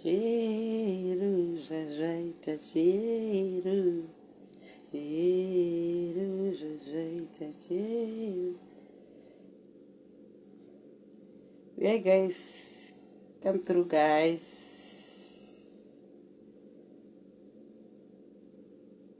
Cheru zvazvaita cheru cheru zvazvaita cheru yeah guys come through guys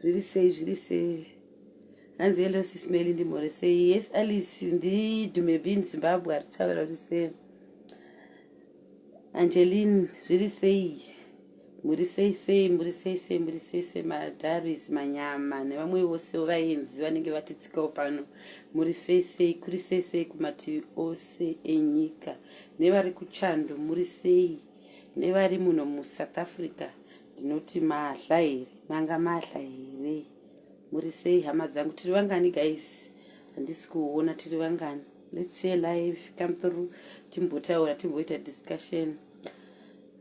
Zviri sei zviri sei. Hanzi hello sis Melly ndimhore sei. Yes Alice ndi Dume Bean Zimbabwe ari kutaura kuti sei. Angeline zviri sei. Muri sei sei muri sei sei muri sei sei madaris manyama nevamwe vose vaenzi vanenge vatitsikawo pano muri sei sei kuri sei sei kumativi ose enyika nevari kuchando muri sei nevari muno musouth africa Ndinoti mahla here manga mahla here muri sei hama dzangu tiri vangani guys handisi kuona tiri vangani let's share live come through timbotaura timboita discussion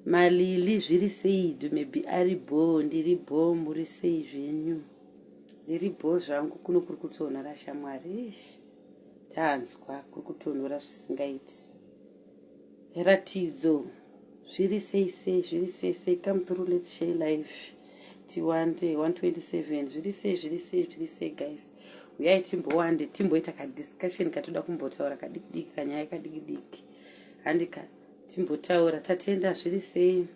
malili zviri sei dume bi ari bho ndiri bho muri sei zvenyu ndiri bho zvangu kuno kuri kutonhora shamwari ish tanzwa kuri kutonhora zvisingaiti Ratidzo zviri sei sei zviri sei sei come through let's share life tiwande 127 zviri sei zviri sei zviri sei guys uyai timbowande timboita kadiscussion katoda kumbotaura kadikidiki kanyaya kadikidiki handika timbotaura tatenda zviri sei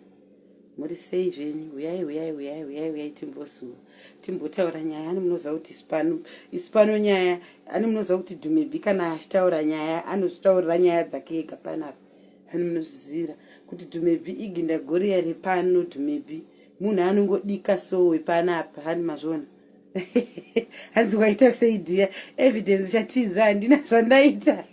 muri sei zvenyu huyai huyai huyai huyai huyai timbosuwa timbotaura nyaya ani munoziva kuti isipano isipano nyaya ani munoziva kuti dhumebi kana achitaura nyaya anozvitaurira nyaya dzake ega panapa ani munozvizira kuti dhumebi iginda goriya repano dhumebi munhu anongodika sowe panapa hani mazvona hanzi waita sei dhiya evidence chatiza handina zvandaita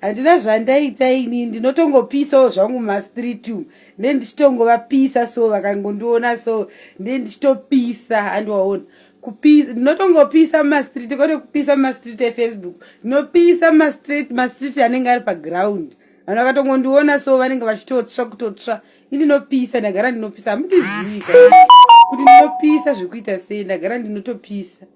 handina zvandaita ini ndinotongopisawo zvangu mumastreet umu nde ndichitongovapisa so vakangondiona so nde ndichitopisa handiwaona kupisa ndinotongopisa mumastreet kwete kupisa mumastreet efacebook ndinopisa mumastreet mastreet anenge ari paground vanhu vakatongondiona so vanenge vachitotsva kutotsva i ndinopisa ndagara ndinopisa hamundizivi kuti ndinopisa zvekuita sei ndagara ndinotopisa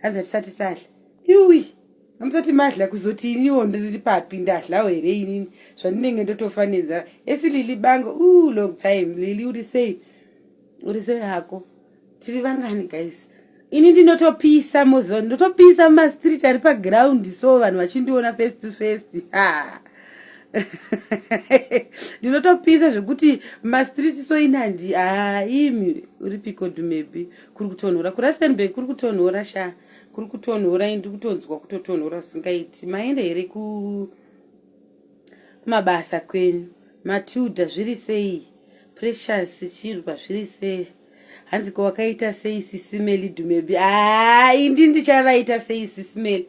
hanzi hatisati tadla yuwi amusati madla kuzoti iniwo ndiri papi ndadlawo here inini zvandinenge ndotofa nenzara esi lili bango u long time lili uri sei uri sei hako tiri vangani guys ini ndinotopisa moziva ndinotopisa mumastreet ari paground so vanhu vachindiona first first ha ndinotopisa zvekuti mumastreet so ini handi ha imi uri piko dumebi kuri kutonhora kurastenburg kuri kutonhora shaa kuri kutonhora ini ndiri kutonzwa kutotonhora zvisingaiti maenda here kumabasa kwenyu matilda zviri sei precious chirwa zviri sei hanzi ko wakaita sei sisimeli dumebi haa ah, indi ndichavaita sei sisimeli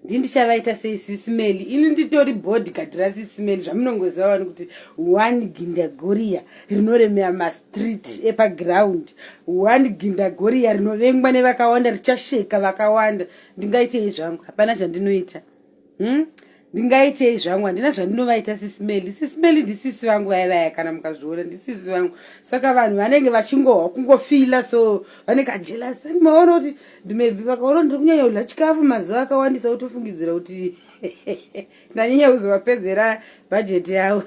ndi ndichavaita sei sisimeli ini nditori body gard rasisimeli zvamunongoziva vanhu kuti one gindagoria rinoremera mastreet epaground one gindagoria rinovengwa nevakawanda richasheka vakawanda ndingaitei zvangu hapana zvandinoita hmm? ndingaitei zvangu handina zvandinovaita sisimeli sisimeli ndisisi vangu vaya vaya kana mukazviona ndisisi vangu saka vanhu vanenge vachingohwa kungofila so vanenge ajelasi maona kuti ndimebi vakaona ndiri kunyanya kudya chikafu mazuva akawandisa kutofungidzira kuti ndanyanya kuzovapedzera bhajeti yavo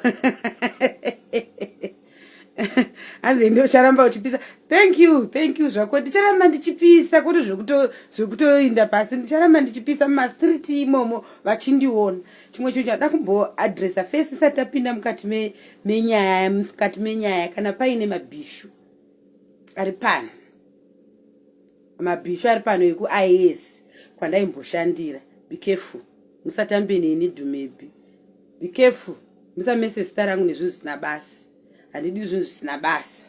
hanzi ende ucharamba uchipisa thank you thank you zvako ndicharamba ndichipisa kuti zvekutoinda pasi ndicharamba ndichipisa mumastreet imomo vachindiona chimwe chinhu chada kumboadressa fesi isati tapinda mukati menyaya mukati menyaya kana paine mabhishu ari pano Mabhishu ari pano vekuIS kwandaimboshandira. Be careful. Musatambe neni Dhumebhi. Be careful. Musamese zita rangu nezvinhu zvisina basa. Handidi zvinhu zvisina basa.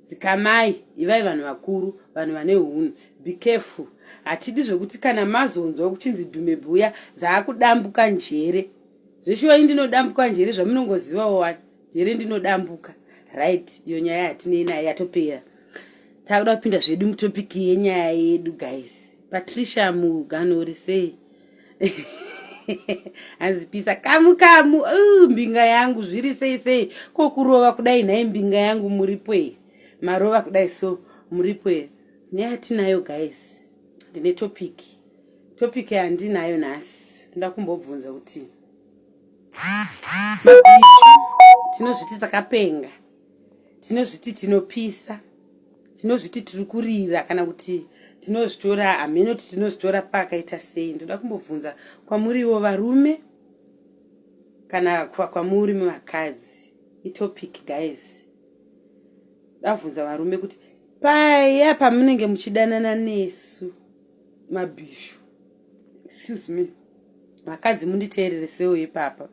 Dzikamai, ivai vanhu vakuru, vanhu vane hunhu. Be careful. Hatidi zvekuti kana mazonzwa kuchinzi Dhumebhi uya zaakudambuka njere. Zveshuwa ini ndinodambuka njere zvamunongozivawo wani. here ndinodambuka right iyo nyaya yatinei nayo yatopera takuda kupinda zvedu mutopiki yenyaya yedu guys patricia mugano uri sei hanzi pisa kamu kamu uh, mbinga yangu zviri sei sei ko kurova kudai nhai mbinga yangu muripo here marova kudai so muripo here nyaya tinayo guys ndine topiki topiki yandinayo nhasi ndoda kumbobvunza kuti tinozviti takapenga tinozviti tinopisa tinozviti tiri kurira kana kuti tinozvitora hameno kuti tinozvitora pakaita sei ndoda kumbobvunza kwamuriwo varume kana kwamuri vakadzi itopic guys davhunza varume kuti paya pamunenge muchidanana nesu mabhishu excuse me vakadzi munditeerere sewo ipapa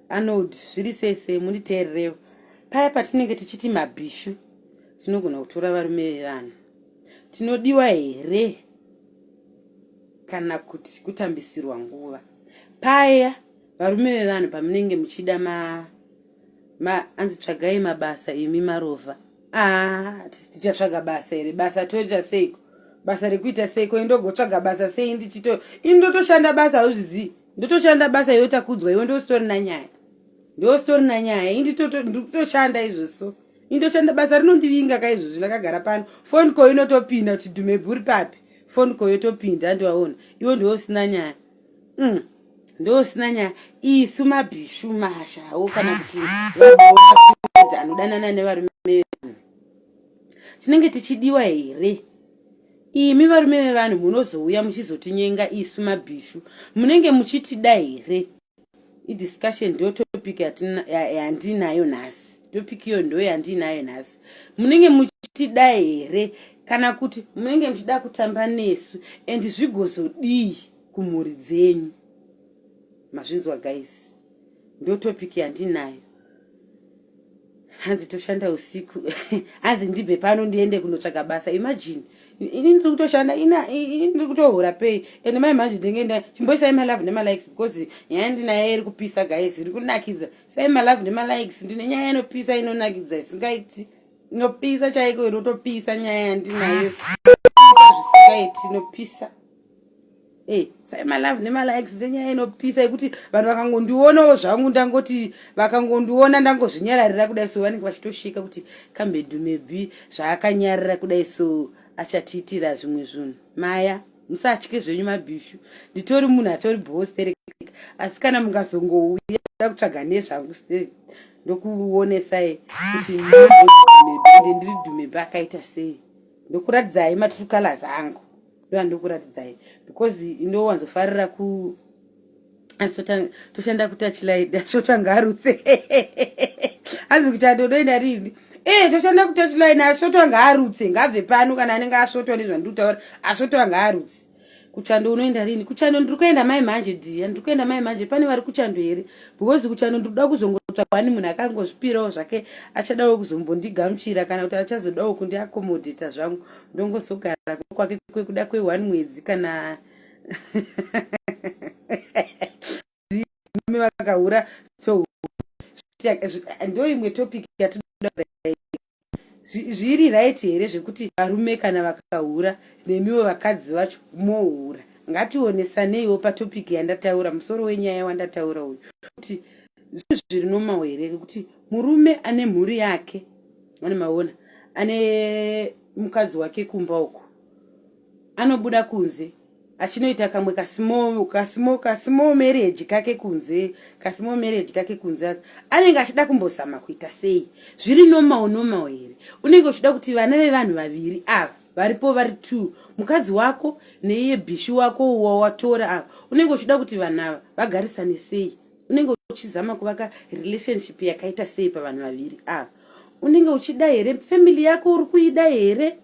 anold zviri sei sei munditeererewo paya patinenge tichiti mabhishu tinogona kutora varume vevanhu tinodiwa here kana kuti kutambisirwa nguva paya varume vevanhu pamunenge muchida ma Ma, anzi tsvagai mabasa imi marovha ah, tichatsvaga basa here basa toita seiko basa rekuita seiko indogotsvaga basa sei ndichito ini ndotoshanda basa hauzvizii ndotoshanda basa iyo takudzwa iwe ndositori nanyaya ndositori nanyaya inditotoshanda izvo so indoshanda basa rinondivinga ka izvozvi ndakagara pano foni ko inotopinda kuti dhumebvuri papi foni ko yotopinda andiwaona iwe ndiwe usina nyaya mm. ndosina nyaya isu mabhishu mashawo kana kuti vaoaedzi anodanana nevarume vevanhu tinenge tichidiwa here imi varume vevanhu munozouya muchizotinyenga isu mabhishu munenge muchitida here idiscussion ndo topic yandinayo nhasi topic iyo ndo yandinayo nhasi munenge muchitida here kana kuti munenge muchida kutamba nesu and zvigozodii kumhuri dzenyu mazvinzwa guys ndo topic yandinayo hanzi toshanda usiku hanzi ndibve pano ndiende kunotsvaga basa imagine ini ndiri kutoshanda ina ini ndiri kutohura pay and mai manje ndinenge nda chimboisai malove nemalikes because nyaya ndinayo iri kupisa guys iri kunakidza sai malove nemalikes ndine nyaya inopisa inonakidza isingaiti inopisa chaiko inotopisa nyaya yandinayo zvisingaiti inopisa Hey, sai malove nemalikes ndenyaya inopisa yekuti vanhu vakangondionawo zvangu ndangoti vakangondiona ndangozvinyararira kudai so vanenge vachitosheka kuti kambedu maybe zvaakanyarira kudai so achatiitira zvimwe zvinhu maya musatye zvenyu mabhishu nditori munhu atori bhowo sterek asi kana mukazongouya da kutsvaga nezvangu sterek ndokuonesai kuti ndiri dhumebe akaita sei ndokuratidzai matrue colors angu ndoda ndokuratidzai because ndowanzofarira ku toshanda kutachlight ashotanga arutse hanzi kuti adodoenda rini ee eh, toshanda kutachlight ashotwa ngaarutse ngabve pano kana anenge asvotwa nezvandikutaura ashotwa ngaarutse kuchando unoenda rini kuchando ndiri kuenda mai manje dia ndiri kuenda mai manje pane vari kuchando here because kuchando ndiri kuda kuzongotsvakwa ani munhu akangozvipirawo zvake achadawo kuzombondigamuchira kana kuti achazodawo kundiakomodhita zvangu ndongozogara kwake kwekuda kwe one mwedzi kana vakahura so ndo imwe topic yatinoda zviri right here zvekuti varume kana vakahura nemiwo vakadzi vacho mohura ngationesaneiwo patopic yandataura musoro wenyaya wandataura uyu kuti zvinhu zviri nomawo here vekuti murume ane mhuri yake Mwana maona ane mukadzi wake kumba uko anobuda kunze achinoita kamwe kasimo kasimo kasimo marriage kake kunze kasimo marriage kake kunze anenge achida kumbozama kuita sei zviri normal normal here unenge uchida kuti vana vevanhu vaviri ava varipo vari two mukadzi wako neiye bishi wako wawatora ava unenge uchida kuti vanhu ava vagarisane sei unenge uchizama kuvaka relationship yakaita sei pavanhu vaviri ava unenge uchida here family yako uri kuida here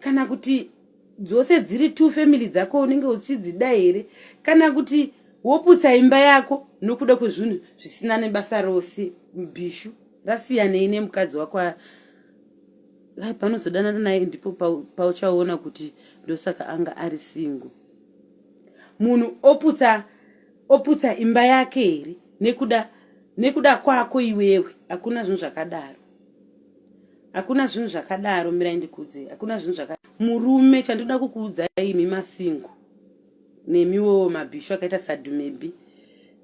kana kuti dzose dziri two family dzako unenge uchidzida here kana kuti woputsa imba yako nokuda kwezvinhu zvisina nebasa rose bhishu rasiyanei nemukadzi wako lai panozodanana naye ndipo pauchaona kuti ndosaka anga ari singo munhu oputsa Oputsa imba yake here nekuda nekuda kwako iwewe hakuna zvinhu zvakadaro hakuna zvinhu zvakadaro mirai ndikuudzei hakuna zvinhu zvaka murume chandinoda kukuudza imi masingo nemiwo mabhishu akaita sadhumebi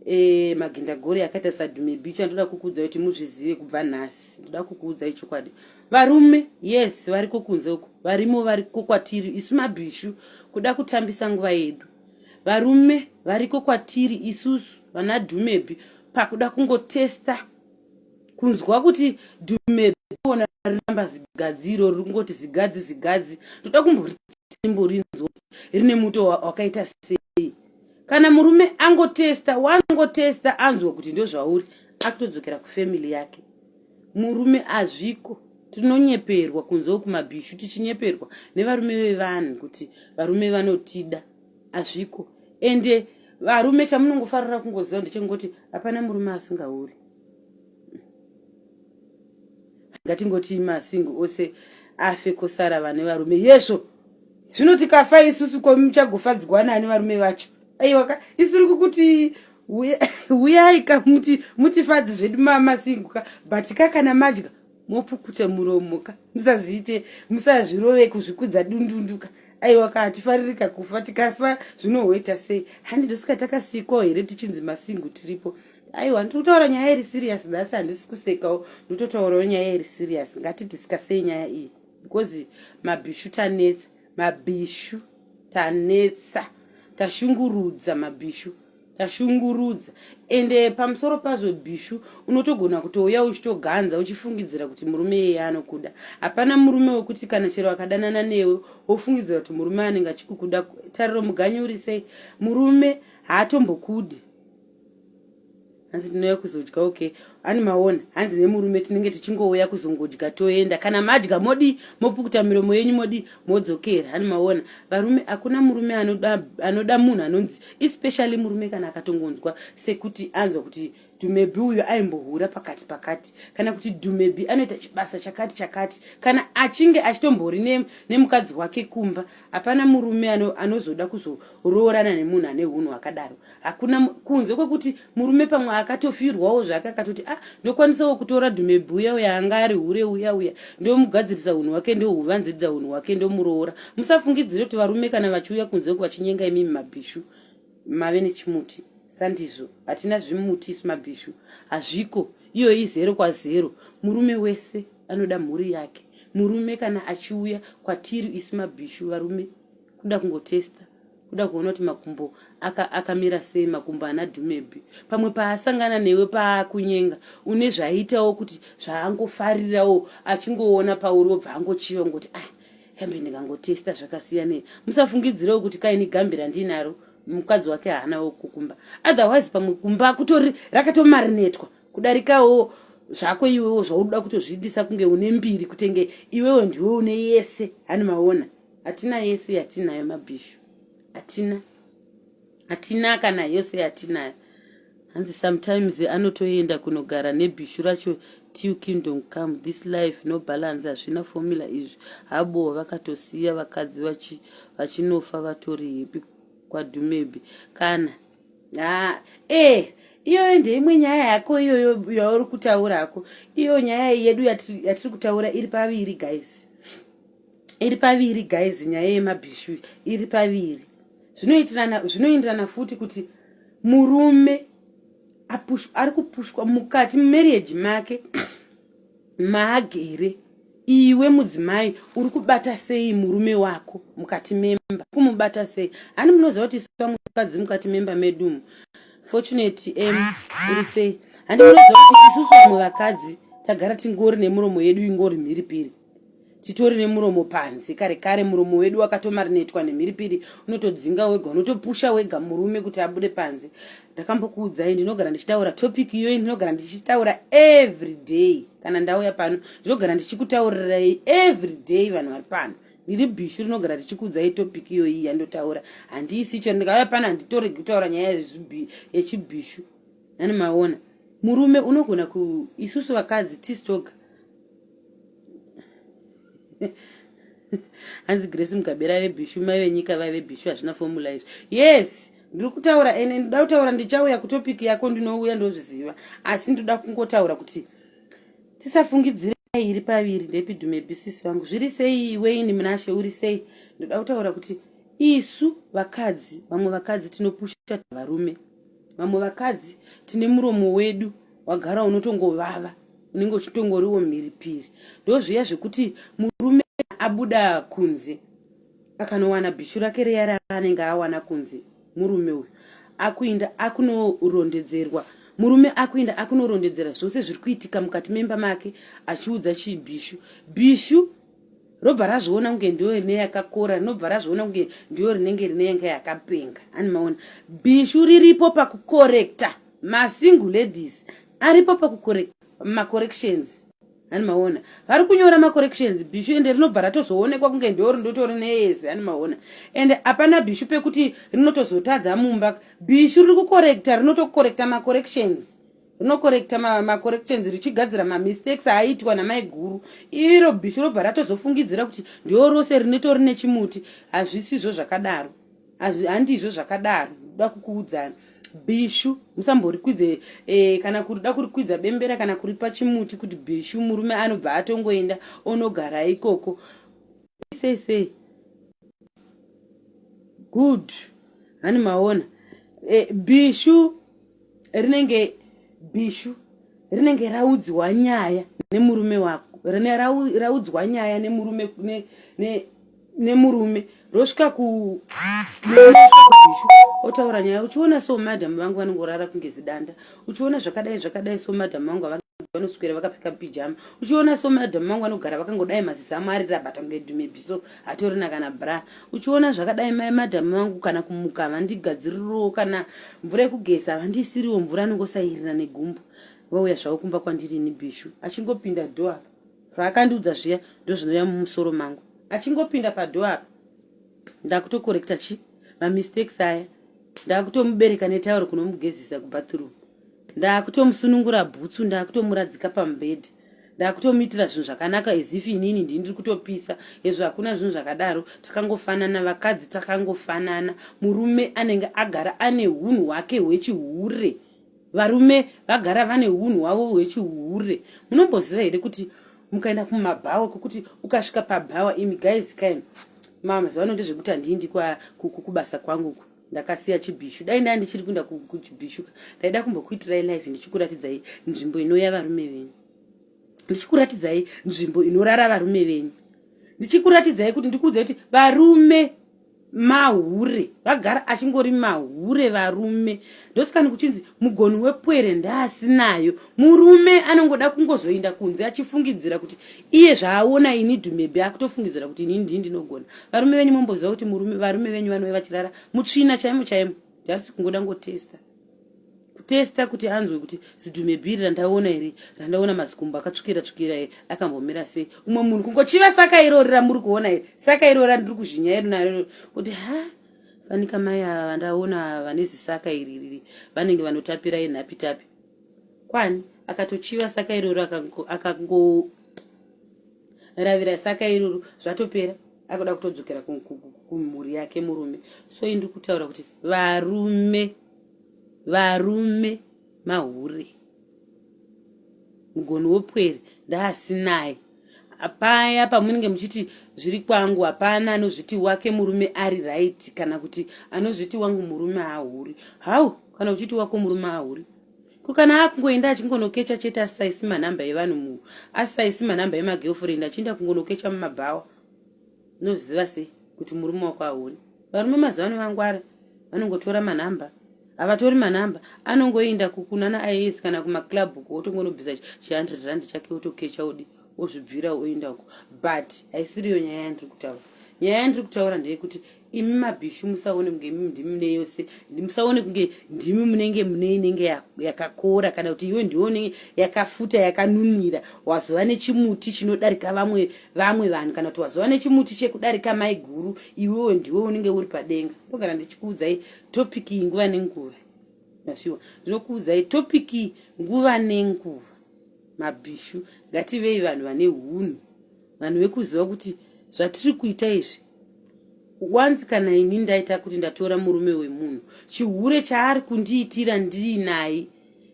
e, eh, magindagori akaita sadhumebi icho andinoda kukuudza kuti muzvizive kubva nhasi ndoda kukuudza ichokwadi varume yes variko kunze uko varimo variko kwatiri isu mabhishu kuda kutambisa nguva yedu varume variko kwatiri isusu vana dhumebhi pakuda kungotesta kunzwa kuti dhumebhi ona riramba zigadzi iro riri kungoti zigadzi zigadzi ndoda kumborimborinzwa rine muto wakaita sei kana murume angotesta wangotesta anzwa kuti ndozvauri akutodzokera kufamily yake murume azviko tinonyeperwa kunzewo kumabhishu tichinyeperwa nevarume vevanhu kuti varume vanotida azviko ende varume chamunongofarira kungoziva ndechekungoti hapana murume asingauri ngatingoti masingo ose afe kosara vane varume yezvo zvino tikafa isusu komuchagofadzigwana ani varume vacho aiwaka isiri kukuti huyai ka muti mutifadzi zvedu mamasinguka but ka kana madya mopukuta muromo ka musazviite musazvirove kuzvikudza dundunduka aiwa ka hatifaririka kufa tikafa zvinohoita sei handi ndosika takasikwawo here tichinzi masingu tiripo aiwa ndiri kutaura nyaya iri serious nhasi handisi kusekawo ndiri kutotaurawo nyaya iri serious ngatidiscasei nyaya iyi because mabhishu tanetsa Mabhishu tanetsa tashungurudza mabhishu tashungurudza ende eh, pamusoro pazvo bhishu unotogona kutouya uchitoganza uchifungidzira kuti murume iyeye anokuda hapana murume wekuti kana chero akadanana newe wofungidzira kuti murume anenge achikukuda tariro muganyurisei murume haatombokudi hanzi ndinouya kuzodya okay ani maona hanzi nemurume tinenge tichingouya kuzongodya toenda kana madya modi mopukuta miromo yenyu modi modzokera hani maona varume hakuna murume anoda, anoda munhu anonzi especially murume kana akatongonzwa sekuti anzwa kuti dumebi uyu aimbohura pakati pakati kana kuti dumebi anoita chibasa chakati chakati kana achinge achitombori nemukadzi ne wake kumba hapana murume anozoda kuzoroorana nemunhu ane hunhu hwakadaro hakuna kunze kwekuti murume pamwe akatofirwawo zvake akatoti ah ndokwanisawo kutora dhumebhuya uya anga ari hure uya uya ndomugadzirisa hunhu hwake ndohuvanziridza hunhu hwake ndomuroora musafungidzire kuti varume kana vachiuya kunze uku vachinyenga imimi mabhishu mave nechimuti sandizvo hatina zvimuti isu mabhishu hazviko iyoyi zero kwazero murume wese anoda mhuri yake murume kana achiuya kwatiri isu mabhishu varume kuda kungotesta kuda kuona kuti makumbo akamira aka sei makumbo ana dhumebhi pamwe paasangana newe paakunyenga une zvaiitawo kuti zvaangofarirawo achingoona pauri wobva angochiva ngoti ah kambe ndikangotesta zvakasiyanei musafungidzirewo kuti kaini gambi randinaro mukadzi wake haanawo kukumba otherwise pamwe kumba kutori rakatomarinetwa kudarikawo zvako iwewo zvaunoda kutozviitisa kunge une mbiri kutenge iwewo ndiwe une yese hani maona hatina yese yatinayo mabhishu hatina hatina kana yose yatinayo hanzi sometimes anotoenda kunogara nebhishu racho till kingdom come this life no balance hazvina formula izvi habo vakatosiya vakadzi vachinofa vatori hepi kwadhumebi kana ah, eh iyoyo ndeimwe nyaya yako iyoyo yauri kutaura hako iyo nyaya yedu yatiri kutaura iri paviri guys iri paviri guys nyaya yemabhishu iri paviri zvinoitirana zvinoenderana futi kuti murume ari kupushwa mukati mumarriage make maagere iwe mudzimai uri kubata sei murume wako mukati memba kumubata sei hani munoziva kuti isa mukadzi mukati memba medumu fortunate m uri sei handi munoziva kuti isusu vamwe vakadzi tagara tingori nemuromo yedu ingori mhiri piri titori nemuromo panze kare kare muromo wedu wakatomarinetwa nemhiripiri unotodzinga wega unotopusha wega murume kuti abude panze ndakambokuudzai ndinogara ndichitaura topic iyoyi ndinogara ndichitaura every day kana ndauya pano ndinogara ndichikutaurirai every day vanhu vari pano ndiri bishu rinogara richikuudzai topic iyoyi yandotaura handiisi chero ndikauya pano handitoregi kutaura nyaya yechibishu nani maona murume unogona ku isusu vakadzi tistoga hanzi grace mugabe rave bishu mai venyika vave bishu hazvina fomula izvi yes ndiri kutaura ene ndoda kutaura ndichauya kutopic yako ndinouya ndozviziva asi ndoda kungotaura kuti tisafungidzire iri paviri ndepidumebisisi vangu zviri sei iwe ini munashe uri sei ndoda kutaura kuti isu vakadzi vamwe vakadzi tinopusha varume vamwe vakadzi tine muromo wedu wagara unotongovava unenge uchitongoriwo mhiripiri ndozviya zvekuti murume abuda kunze akanowana bhishu rake reya raanenge awana kunze murume uyu akuinda akunorondedzerwa murume akuinda akunorondedzera zvose zviri kuitika mukati memba make achiudza chii bhishu bhishu robva razviona kunge ndiyo rine yakakora rinobva razviona kunge ndiyo rinenge rine yanga yakapenga ani maona bhishu riripo pakukorekta masingle ladies aripo pakukore macorrections ani maona vari kunyora macorrections bishu ende rinobva ratozoonekwa kunge ndoo rindotori neyese ani maona ende hapana bishu pekuti rinotozotadza mumba bishu riri kukorekta rinotokorekta macorrections rinokorekta macorrections richigadzira mamistakes aitwa namaiguru iro bishu robva ratozofungidzira kuti ndoo rose rinotori nechimuti hazvisizvo zvakadaro handizvo zvakadaro da kukuudzana bishu musamborikwidze e, kana kurida kurikwidza bembera kana kuripa chimuti kuti bishu murume anobva atongoenda onogara ikoko sei sei good hani maona e, bishu rinenge bishu rinenge raudzwa nyaya nemurume wako rine raudzwa nyaya nemurume ne, ne, nemurume rosvika ku otaura nyaya uchiona so madam vangu vanongorara kunge zidanda uchiona zvakadai zvakadai so madam vangu vanoswera vakapfeka pijama uchiona so madam vangu vanogara vakangodai mazizamu arirabata kunge dume biso hatorina kana bra uchiona zvakadai mai madham vangu kana kumuka havandigadziririwo kana mvura yekugeza havandiisiriwo mvura anongosairira negumbo vauya zvavo kumba kwandiri ini bishu achingopinda dho apa zvaakandiudza zviya ndozvinouya mumusoro mangu achingopinda padho apa ndakutokorekta chi mamistakes aya ndakutomubereka netauro kunomugezisa kubathroom Ndakutomusunungura bhutsu ndakutomuradzika pamubhedha ndakutomuitira zvinhu zvakanaka as if inini ndini ndiri kutopisa hezvo hakuna zvinhu zvakadaro takangofanana vakadzi takangofanana murume anenge agara ane unhu hwake hwechihure varume vagara vane unhu hwavo hwechihure munomboziva here kuti mukaenda kumabhawa kwekuti ukasvika pabhawa imi guys kaini mazuva ano ndezvekuti handii ndikubasa kwangu ku ndakasiya chibhishu dai ndai ndichiri kuenda kuchibhishu ndaida kumbokuitirai live ndichikuratidzai nzvimbo inoya varume venyu ndichikuratidzai nzvimbo inorara varume venyu ndichikuratidzai kuti ndikuudza kuti varume mahure vagara achingori mahure varume ndosikani kuchinzi mugoni wepwere ndaasinayo murume anongoda kungozoinda kunze achifungidzira kuti iye zvaaona ini dhumebhi akutofungidzira kuti ini ndii ndinogona varume venyu momboziva kuti murume varume venyu vanove vachirara mutsvina chaimo chaimo just kungoda ngotesta kutesta kuti anzwe kuti zidhumebhi iri randaona here randaona mazikumbo akatsvukira tsvukira e akambomira sei umwe munhu kungochiva saka irori ramuri kuona here saka irori randiri kuzhinya iri naro kuti ha fanika mai ava vandaona vane zisaka iri riri vanenge vanotapira enhapitapi kwani akatochiva saka iroro akangoravira saka iroro zvatopera akuda kutodzokera kumhuri yake murume so indiri kutaura kuti varume varume mahure mugoni wopwere ndaasinaye paya pamunenge muchiti zviri kwangu hapana anozviti wake murume ari right kana kuti anozviti wangu murume ahuri hau kana uchiti wako murume ahuri ko kana akungoenda achingonokecha chete asisaisi manhamba evanhu mu asisaisi manhamba emagirlfriend achienda kungonokecha mumabhawa unoziva sei kuti murume wako aone varume mazuva ano vangwara vanongotora manhamba havatori manhamba anongoenda kukunana ias kana kumaclub uko wotongonobvisa chi100 rand chake wotokecha odi wozvibvira oenda uko but haisiriyo nyaya yandiri kutaura nyaya yandiri kutaura ndeyekuti imi mabhishu musaone kunge imi ndimi mune yose musaone kunge ndimi munenge mune inenge yakakora kana kuti iwe ndiwe unenge yakafuta yakanunira wazova nechimuti chinodarika vamwe vamwe vanhu kana kuti wazova nechimuti chekudarika mai guru iwewe ndiwe unenge uri padenga ndogara ndichikuudzai topiki nguva nenguva masiwa ndinokuudzai topiki nguva nenguva mabhishu ngativei vanhu vane hunhu vanhu vekuziva kuti zvatiri kuita izvi once kana ini ndaita kuti ndatora murume wemunhu chihure chaari kundiitira ndiinaye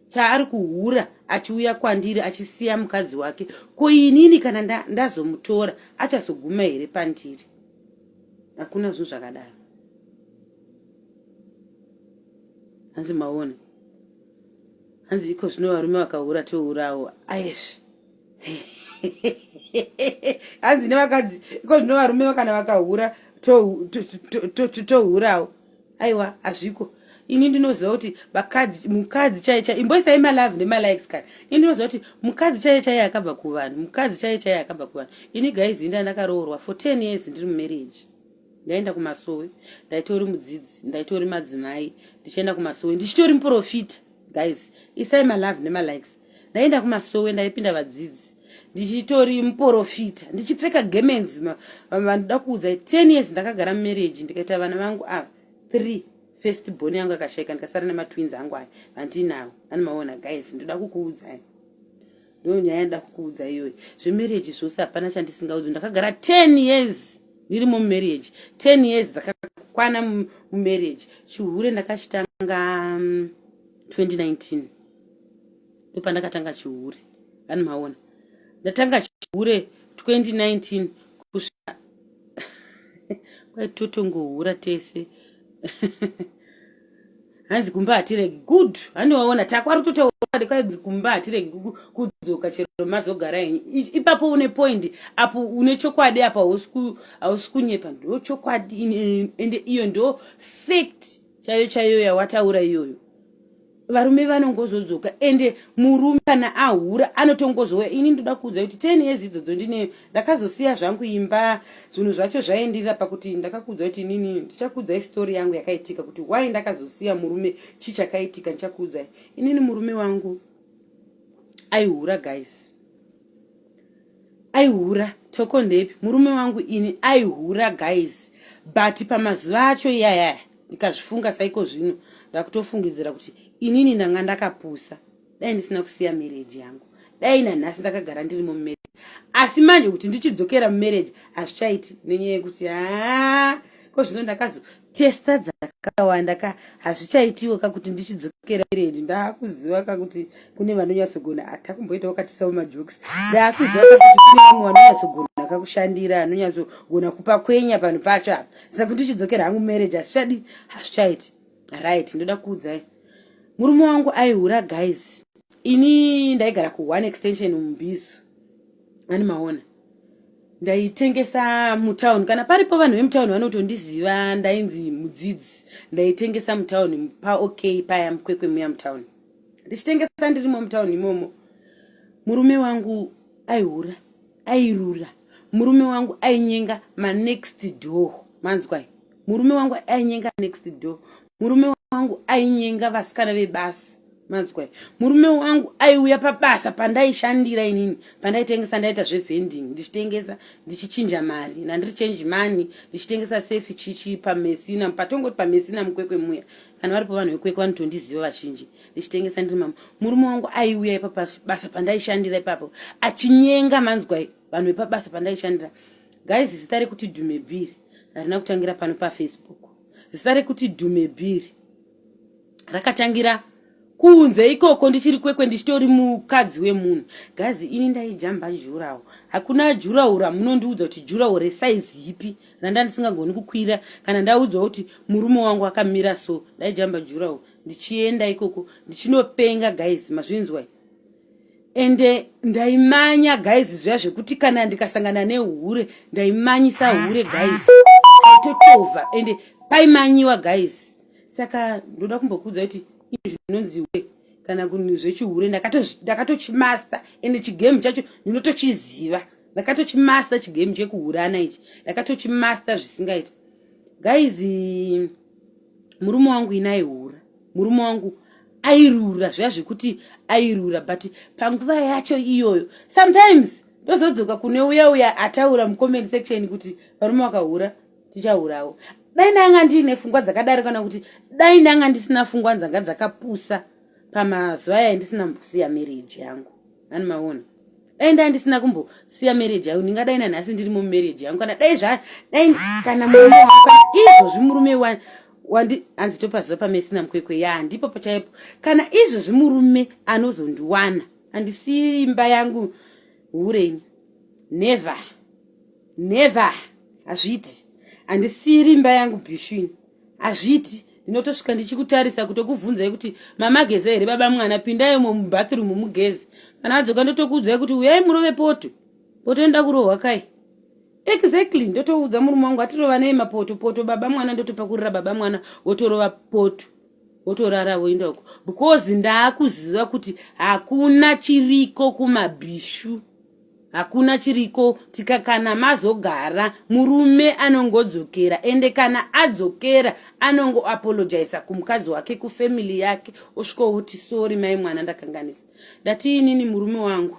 chaari kuhura achiuya kwandiri achisiya mukadzi wake ko inini kana ndazomutora nda achazoguma here pandiri hakuna zvinhu zvakadaro hanzi maona hanzi iko zvino varume vakahura tourawo ayesh hanzi nevakadzi iko zvino varume vakana vakahura tohurawo aiwa hazviko ini ndinoziva kuti vakadzi mukadzi chaiye chaiye imboisai malove nemalikes kana ini ndinoziva kuti mukadzi chaiye chaiye akabva kuvanhu mukadzi chaiye chaiye akabva kuvanhu ini gaizi inda ndakaroorwa for ten years ndiri mumarriage ndaenda kumasowe ndaitori mudzidzi ndaitori madzimai ndichienda kumasowe ndichitori muprofita guys isai malove nemalikes ndaenda kumasowe ndaipinda vadzidzi ndichitori muporofita ndichipfeka gemenzi vandoda kuudza ten years ndakagara mumarriage ndikaita vana vangu ava three first boni yangu akashaika ndikasara nematwins angu aya vandinawo vanomaona guys ndoda kukuudzai ndo nyaya ndoda kukuudza iyoyo zvemarriage zvose hapana chandisingaudzi ndakagara ten years ndiri mumarriage ten years dzakakwana mumarriage chihure ndakachitanga mm, 2019 ndopandakatanga chihure vanhu maona ndatanga chihure 2019 kusvika kwaitotongohura tese hanzi kumba hatiregi good haniwaona takwari totaura kwaidzi kumba hatiregi kudzoka chero mazogara henyu ipapo une point apo une chokwadi apo hausi kunyepa ndo chokwadi ende iyo ndo fact chaiyo chaiyo yawataura iyoyo varume vanongozodzoka ende murume kana ahura anotongozouya ini ndoda kuudza kuti ten years idzodzo ndineyo ndakazosiya zvangu imba zvinhu zvacho zvaendirira pakuti ndakakuudza kuti inini ndichakuudzai story yangu yakaitika kuti why ndakazosiya murume chii chakaitika ndichakuudzai inini murume wangu aihura guys Aihura toko ndepi murume wangu ini aihura guys but pamazuva acho iyaya ndikazvifunga saiko zvino ndakutofungidzira kuti inini ndanga ndakapusa dai ndisina kusiya marriage yangu dai nanhasi ndakagara ndiri mumarriage asi manje kuti ndichidzokera mumarriage hazvichaiti nenyaya yekuti haa ko zvino ndakazo testa dzakawanda ka hazvichaitiwo ka kuti ndichidzokera redi ndakuziva ka kuti kune vanonyatsogona hata kumboitawo katisawo majokes ndakuziva ka kuti kune vamwe vanonyatsogona akakushandira anonyatsogona kupa kwenya panhu pacho apa saka kuti ndichidzokera hangu marriage hazvichadi hazvichaiti right ndoda kuudzai murume wangu aihura guys ini ndaigara ku one extension mumbizo ani maona ndaitengesa mutown kana paripo vanhu vemutown vanotondiziva ndainzi mudzidzi ndaitengesa mutown paok paya mukwekwe muya mutown ndichitengesa ndirimo mutown imomo murume wangu aihura airura murume wangu ainyenga manext door manzwai murume wangu ainyenga next door murume wangu ainyenga vasikana vebasa manzwa murume wangu aiuya pabasa pandaishandira inini pandaitengesa ndaita zvevending ndichitengesa ndichichinja mari nandiri change money ndichitengesa safe chichi pamesina patongoti pamesina mukwekwe muya kana varipo vanhu vekwekwe vanotondiziva vazhinji ndichitengesa ndiri mama murume wangu aiuya ipapabasa pandaishandira ipapo achinyenga manzwa vanhu vepabasa pandaishandira guys zita rekuti dhumebhiri harina kutangira pano pafacebook zita rekuti dhumebhiri rakatangira kunze ikoko ndichiri kwekwe ndichitori mukadzi wemunhu gazi ini ndaijamba jurawo hakuna jurawo ramunondiudza kuti jurawo resaizi ipi randa ndisingagoni kukwira kana ndaudzwa kuti murume wangu akamira so ndaijamba jurawo ndichienda ikoko ndichinopenga guys mazvinzwai ende ndaimanya guys zviya zvekuti kana ndikasangana nehure ndaimanyisa hure guys aitotova ende paimanyiwa guys saka ndoda kumbokuudza kuti izvi zvinonzi hure kana kunhu zvechihure ndakatochimaster ende chigame chacho ndinotochiziva ndakatochimaster chigame chekuhurana ichi ndakatochimaster zvisingaiti guys murume wangu inai hura murume wangu airura zviya zvekuti airura but panguva yacho iyoyo sometimes ndozodzoka kune uya uya ataura mucomment section kuti varume vakahura tichahurawo dai ndanga ndiine fungwa dzakadaro kana kuti dai ndanga ndisina fungwa dzanga dzakapusa pamazuva aya ndisina mbosiya marriage yangu ani maona dai ndai ndisina kumbosiya marriage yangu ndingadai nanhasi ndirimo mumarriage yangu kana dai zva dai kana murume wangu kana izvozvi murume wani wandi hanzi topaziva pamesina mukwekwe ya ndipo pachaipo kana izvezvi murume anozondiwana handisi imba yangu hureni never never hazviiti handisiri imba yangu bishwini hazviiti ndinotosvika ndichikutarisa kutokubvunzai kuti mamageza here baba mwana pindai mo mubathroom mugezi kana adzoka ndotokuudzai kuti uyai murove poto potoenda kurohwa kai exactly ndotoudza murume wangu atirova nei mapoto poto baba mwana ndotopakurira baba mwana wotorova poto wotorara woenda uko because ndaakuziva kuti hakuna chiriko kumabhishu hakuna chiriko tika kana mazogara murume anongodzokera ende kana adzokera anongoapologisa kumukadzi wake kufamily yake osvikooti sori mai mwana ndakanganisa ndati inini murume wangu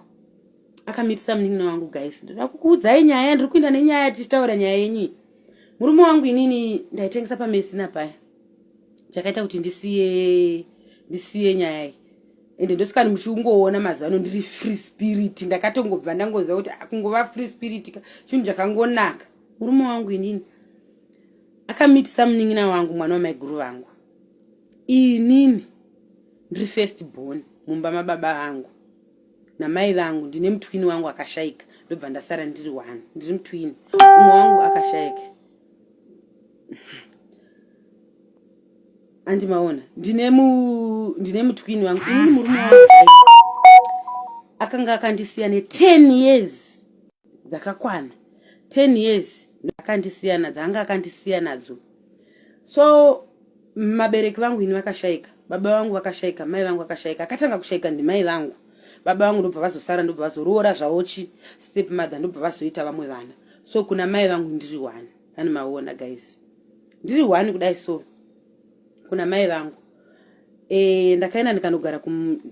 akamitisa munin'ina wangu guys ndoda kukuudzai nyaya ndiri kuenda nenyaya tichitaura nyaya yenyi murume wangu inini ndaitengesa pamesina paya chakaita kuti ndisiye ndisiye nyaya iyi ende ndosikani muchiungoona mazuva ano ndiri free spirit ndakatongobva ndangoziva kuti kungova free spirit ka chinhu chakangonaka murume wangu inini akamitisa munin'ina wangu mwana wamaiguru vangu inini ndiri first born mumba mababa vangu namai vangu ndine mutwini wangu akashaika ndobva ndasara ndiri one ndiri mutwini umwe wangu akashaika andi maona ndine mu ndine mutwini wangu ini murume wangu akanga akandisiya ne 10 years dzakakwana 10 years ndakandisiya nadzo anga akandisiya nadzo so mabereki vangu ini vakashaika baba vangu vakashaika mai vangu vakashaika akatanga kushaika ndimai vangu baba vangu ndobva vazosara ndobva vazoroora zvaochi step mother ndobva vazoita vamwe vana so kuna mai vangu ndiri one ani maona guys ndiri one kudai so kuna mai vangu Eh, ndakaenda ndikanogara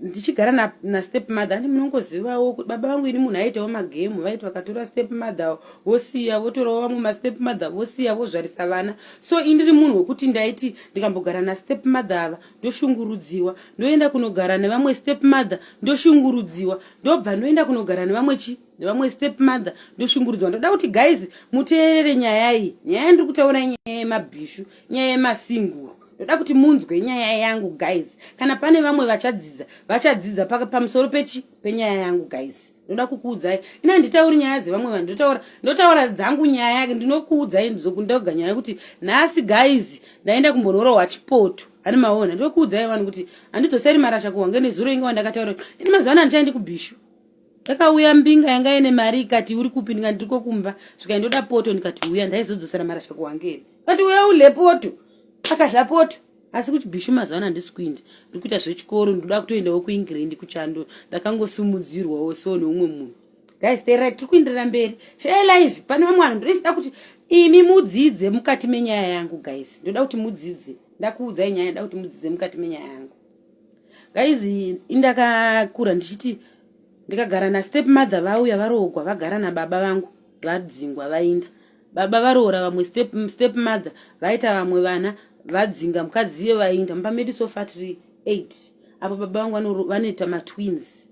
ndichigara na, na step mother andi munongozivawo kuti baba vangu ini munhu aitawo magemu vaiti vakatora step mother vosiya votorawo vamwe mastep mother vosiya vozvarisa vana so indiri munhu wekuti ndaiti ndikambogara na step mother ava ndoshungurudziwa ndoenda kunogara nevamwe step mother ndoshungurudziwa ndobva ndoenda kunogara nevamwe chi nevamwe step mother ndoshungurudziwa ndoda kuti guys muteerere nyaya iyi nyaya ndiri kutaura nyaya yemabhishu nyaya yemasinguru ndoda kuti munzwe nyaya yangu guys kana pane vamwe vachadzidza vachadzidza pamusoro pechi penyaya yangu guys ndoda kukuudzai ina nditauri nyaya dzevamwe vanhu ndotaura ndotaura dzangu nyaya yake ndinokuudzai ndoga nyaya yekuti nhasi guys ndaenda kumbonorohwa chipoto ani maona ndokuudzai vanhu kuti handidzoseri marasha kuhwange nezuro inge wandakataura ini mazuva ano handichaendi kubhishu Takauya mbinga yanga ine mari ikati uri kupi ndikati ndiriko kumba zvikai ndoda poto ndikati uya ndaizodzosera mari acha kuhangeri kati uya ule poto akadla poto asi kuchibhishu mazuva ano handisi kuindi ndiri kuita zvechikoro ndikuda kutoendawo kuingrand kuchando ndakangosimudzirwawo so neumwe munhu guys they right tiri kuenderera mberi share live pane vamwe vanhu ndinoda kuti imi mudzidze mukati menyaya yangu guys ndoda kuti mudzidze ndakuudzai nyaya ndoda kuti mudzidze mukati menyaya yangu guys indakakura ndichiti ndikagara nastep mother vauya varoogwa vagara nababa vangu vadzingwa vainda baba varoora vamwe step, step mother vaita vamwe vana vadzinga mukadzi iye vainda mumba medu sofa tiri eight apo baba vangu vanoita matwins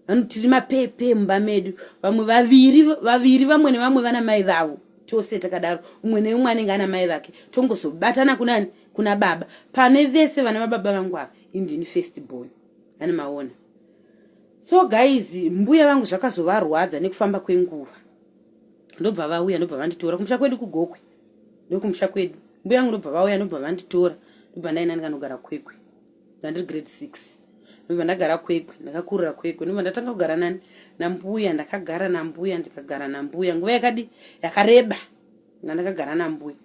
vanotiri mapepe mumba medu vamwe vaviri vaviri vamwe nevamwe vana mai vavo tose takadaro umwe neumwe anenge ana mai vake tongozobatana kunani kuna baba pane vese vana vababa vangu ava indini first born ani maona so guys mbuya vangu zvakazovarwadza nekufamba kwenguva ndobva vauya ndobva vanditora kumusha kwedu kugokwe nekumusha kwedu mbuya yangu ndobva vauya ndobva vanditora ndobva ndaina ndinganogara kwekwe ndandiri grade six ndobva ndagara kwekwe ndakakurira kwekwe ndobva ndatanga kugara nani nambuya ndakagara nambuya ndikagara nambuya nguva yakadi yakareba ndandakagara nambuya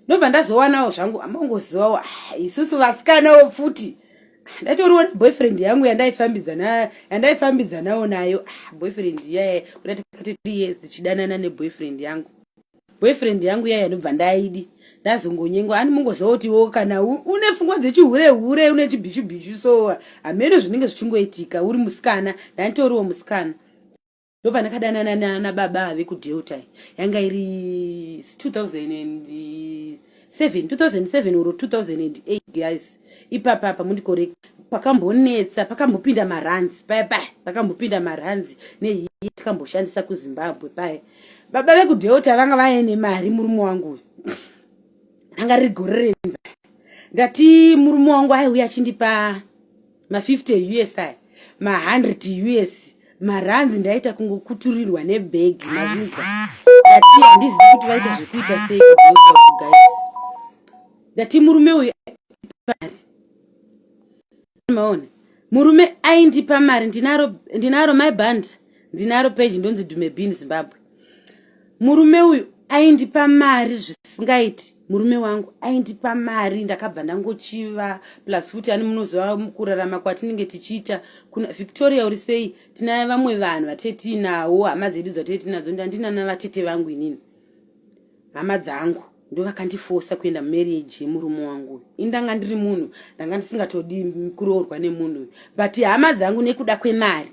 ndobva ndazowanawo zvangu amangozivawo ah, isusu vasikanawo futi ah, ndatoriwo neboyfriend yangu yandaifambidzana yandaifambidzanawo nayo ah, boyfriend iyaye kuda tikati three years tichidanana neboyfriend yangu boyfriend yangu iyaye ndobva ndaidi ndazongonyengwa ani mungozotiwo kana une fungwa dzechihure hure une chibhichu bhichu so hameno zvinenge zvichingoitika uri musikana ndanditoriwo musikana ndopandakadanana nana baba ave kudelta yanga iri 2007 2007 or 2008 guys ipapa apa mundikore pakambonetsa pakambopinda maranzi paya paya pakambopinda maranzi neiye tikamboshandisa kuzimbabwe paya baba vekudelta vanga vaye nemari murume wangu uyu ranga riri gore renza ndati murume wangu aiuya achindipa ma 50 eus aya ma 100 eus maranzi ndaita kungokuturirwa nebhegi mavinzwa ndati handizivi kuti vaita zvekuita sei guys ndati murume uyu mari maona murume aindipa mari ndinaro ndinaro my band ndinaro page ndonzi dume bin zimbabwe murume uyu aindipa mari zvisingaiti murume wangu aindipa mari ndakabva ndangochiva plus futi ani munoziva kurarama kwatinenge tichiita kuna victoria uri sei tina vamwe vanhu vatee tiinawo hama dzedu dzatee tinadzo ndandinana vatete vangu inini hama dzangu ndo vakandifosa kuenda mumarriage yemurume wangu uyu ini ndanga ndiri munhu ndanga ndisingatodi kuroorwa nemunhu uyu but hama dzangu nekuda kwemari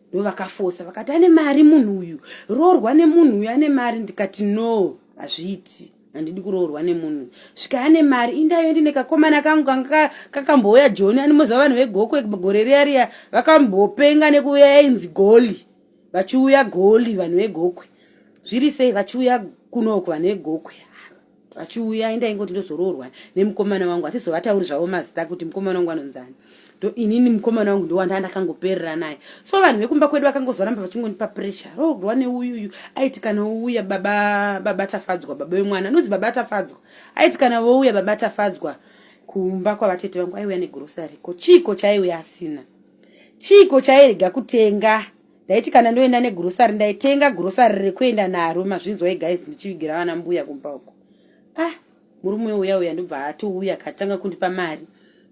ndovakafosa vakati ane mari munhu uyu roorwa nemunhu uyu ane mari ndikati no hazviiti handidi kuroorwa nemunhu svika ane mari indayo ndine kakomana kangu kanga kakambouya joni animoziva vanhu vegokwe gore riya riya vakambopenga nekuuya yainzi goli vachiuya goli vanhu vegokwe zviri sei vachiuya kunoku vanhu vegokwe vachiuya ini ndaingoti ndozoroorwa nemukomana wangu hatizovatauri zvavo mazita kuti mukomana wangu anonzani ndo inini mukomana wangu ndowanda ndakangoperera naye so vanhu vekumba kwedu vakangozoramba vachingondipa pressure roorwa neuyuyu aiti kana wouya baba baba tafadzwa baba vemwana nonzi baba tafadzwa aiti kana wouya baba tafadzwa kumba kwavatete vangu aiuya negrosary ko chiiko chaiuya asina chiiko chairega kutenga ndaiti kana ndoenda negrosary ndaitenga grosary rekuenda naro mazvinzwai guys ndichivigira vana mbuya kumba uko ah murume uya uya ndobva atouya katanga kundipa mari